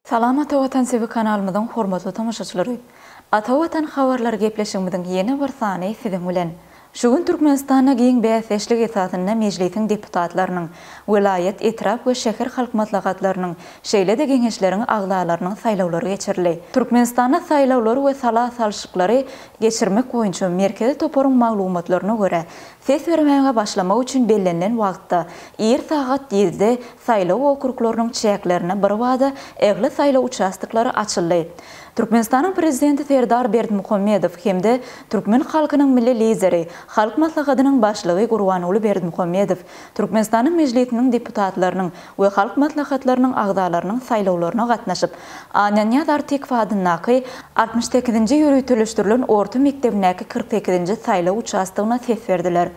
Salam Ata Watan TV kanalymyzyň hormatly tomaşaçylary. Ata Watan habarlary gepleşigimiziň ýene bir sany siziň bilen. Şu gün Türkmenistanda giň bäsdeşlik esasynda Mejlisiň deputatlarynyň, welaýat, etrap we şäher halk maslahatlarynyň, şeýle-de Geňeşleriň agzalarynyň saýlawlary geçirildi. Türkmenistanda saýlawlary we sala salşyklary geçirmek boýunça merkezi toparyň maglumatlaryna görä, ses bermäge başlamak üçin bellenilen wagtda, ir sagat ýedide saýlaw okruglarynyň çäklerinde birbada ähli saýlaw uçastoklary açyldy. Türkmenistanyň Prezidenti Serdar Berdimuhamedow hem-de türkmen halkynyň Milli Lideri, Halk Maslahatynyň Başlygy Gurbanguly Berdimuhamedow Türkmenistanyň Mejlisiniň deputatlarynyň we Halk Maslahatlarynyň agzalarynyň saýlawlaryna gatnaşyp, Annanyýaz Artykow adyndaky altmyş sekizinji ýöriteleşdirilen orta mekdebindäki kyrk sekizinji saýlaw uçastogyna ses berdiler.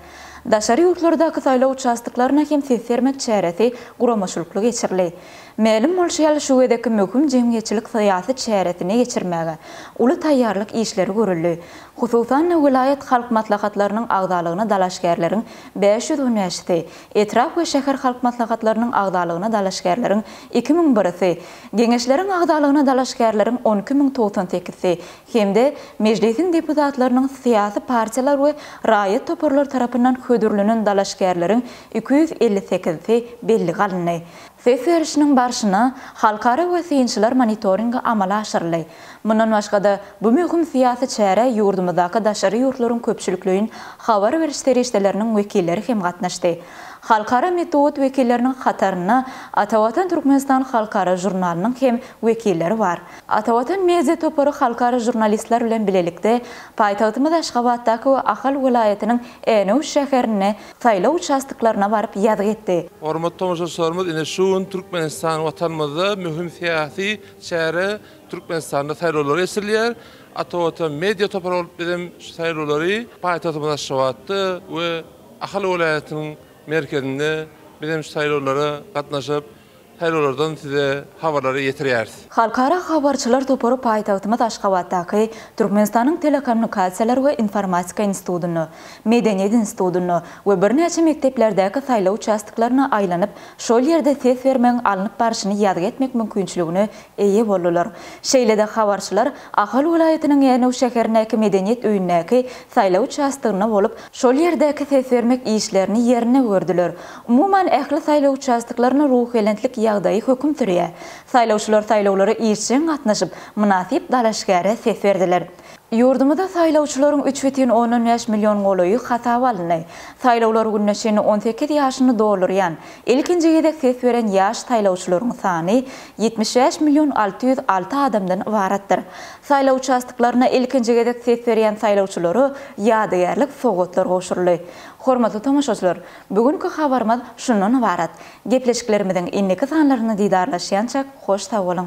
Daşary ýurtlardaky saýlaw uçastoklaryna hem ses bermek çäresi guramaçylykly geçirildi. Mälim bolşy ýaly, şu gezekki möhüm jemgyýetçilik-syýasy çäresini geçirmäge uly taýýarlyk işleri görüldi. Hususan-da, welaýat Halk Maslahatlarynyň agzalygyna dalaşgärleriň bäş ýüz hünärçisi, etrap we şäher halk maslahatlarynyň agzalygyna dalaşgärleriň iki müň birisi, Geňeşleriň agzalygyna dalaşgärleriň on iki müň togsan sekizsi hem-de Mejlisiň deputatlarynyň syýasy partiýalar we raýat toparlary tarapyndan hödürlenen dalaşgärleriň iki ýüz elli sekizisi bellige alyndy. Ses berişiniň barşynda halkara we synçylar monitoringi amala aşyryldy. Mundan başga-da, bu möhüm syýasy çärä ýurdumyzdaky daşary ýurtlaryň köpçülikleýin habar beriş serişdeleriniň wekilleri hem gatnaşdy. Halkara metbugat wekilleriniň hatarynda Atavatan Türkmenistan halkara žurnalynyň hem wekilleri bar. Atavatan media topary halkara žurnalistler bilen bilelikde paýtagtymyz Aşgabatdaky we Ahal welaýatynyň Änew şäherinde saýlaw uçastoklaryna baryp ýazgy etdi. Hormatly tomaşaçylarymyz, ine şu gün Türkmenistan Watanymyzda möhüm syýasy Çäre Türkmenistanda saýlawlar geçirilýär. Atavatan media topary bolup biz hem şu saýlawlary paýtagtymyz Aşgabatda we Ahal welaýatynyň merkezinde biz hem şu saýlawlara gatnaşyp, saýlawlardan size habarlary ýetirýäris. Halkara habarçylar topary paýtagtymyz Aşgabatdaky Türkmenistanyň Telekommunikasiýalar we informatika institutynda, Medeniýet institutynda we birnäçe mekdeplerdäki saýlaw uçastoklaryna aýlanyp, Şol ýerde ses bermegiň alnyp barşyny ýazgy etmek mümkinçiligine eýe boldular. Şeýle-de habarçylar Ahal welaýatynyň Änew şäherindäki Medeniýet öýündäki saýlaw uçastygynda bolup, şol ýerdäki ses bermek işlerini ýerinde gördüler. Umuman, ähli saýlaw uçastoklarynda ruhubelentlik ýagdaýy höküm sürýär. Saýlawçylar saýlawlara işjeň gatnaşyp, mynasyp dalaşgäre ses berdiler. Ýurdumyzda saýlawçylaryň üç bütin ondan bäş million golaýy hasaba alyndy. Saýlawlar gününe çenli on sekiz ýaşyny doldurýan, ilkinji gezek ses beren ýaş saýlawçylaryň sany ýetmiş bäş million alty ýüz alty adamdan ybaratdyr. Saýlaw uçastoklarynda ilkinji gezek ses berýän saýlawçylara ýadygärlik sowgatlar gowşuryldy. Hormatly tomaşaçylar, bu günki habarymyz şundan ybarat. Gepleşiklerimiziň indiki sanlaryny didarlaşýançak hoş sag boluň!